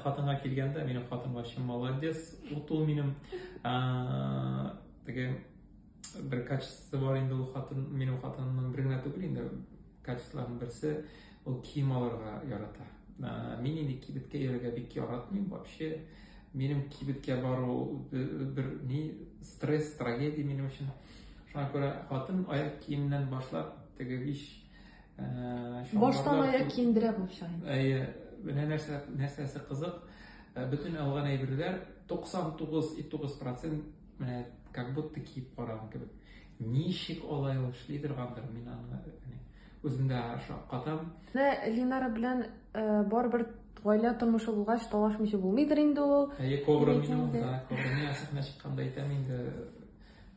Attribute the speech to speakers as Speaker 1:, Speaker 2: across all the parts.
Speaker 1: Хатынга килгәндә, минем хатыным вообще молодец. Вот ул минем теге бер качество бар инде ул хатын, минем хатынымның бер генә түгел инде качестволарның берсе, ул кием алырга ярата. Мин инде кибеткә йөрергә бик яратмыйм вообще. Минем кибеткә бару бер ни стресс, трагедия минем өчен. Шуңа күрә хатын аяк киемнән башлап, теге биш
Speaker 2: Баштан аяк киендерә булып чыгыйм. Әйе, менә нәрсә
Speaker 1: нәрсәсе кызык, э, бөтен алган әйберләр 99,9% менә как будто киеп караган кебек. Ничек алай ул эшли торгандыр, мин аны үземдә шаккатам. Менә Линара
Speaker 2: белән э, барыбер гаилә тормышы булгач талашмыйча булмыйдыр инде ул. Әйе, кобра минем, да,
Speaker 1: кобра миңа сәхнә чыкканда әйтәм инде,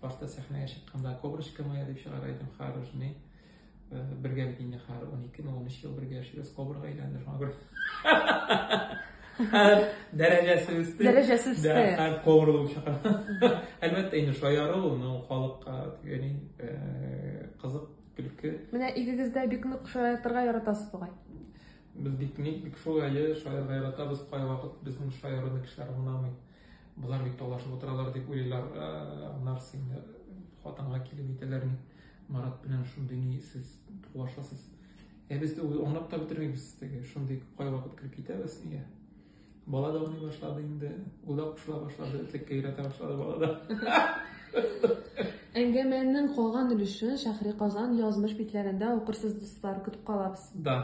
Speaker 1: башта сәхнәгә чыкканда коброчка моя дип чыгар идем, хорош, бергәлек инде хәзер он ике он өч ел бергә яшибез кабырга әйләнде шуңа күрә хәзер дәрәҗәсе үсте дәрәҗәсе үсте хәзер
Speaker 2: кабырылып чыга
Speaker 1: әлбәттә инде шаяру ну халыкка тегени кызык көлке менә игегездә
Speaker 2: бик нык шаяртырга яратасыз бугай без бик
Speaker 1: ник бик шулай шаярга яратабыз кайвакыт безнең шаярыны кешеләр аңламый болар бит талашып утыралар дип уйлыйлар нарсы инде хатынга килеп әйтәләр Марат белән шундый ни сез тугашасыз. Ә без дә ул аңлап та бетермибез теге шундый кайвакыт килеп китәбез нигә. Бала да уйный башлады инде. Ул да кушыла башлады, теккә өйрәтә башлады бала да.
Speaker 2: Әңгәмәнең калган өлешен Шәһри Казан язмыш битләрендә укырсыз, дуслар, көтеп калабыз. Да.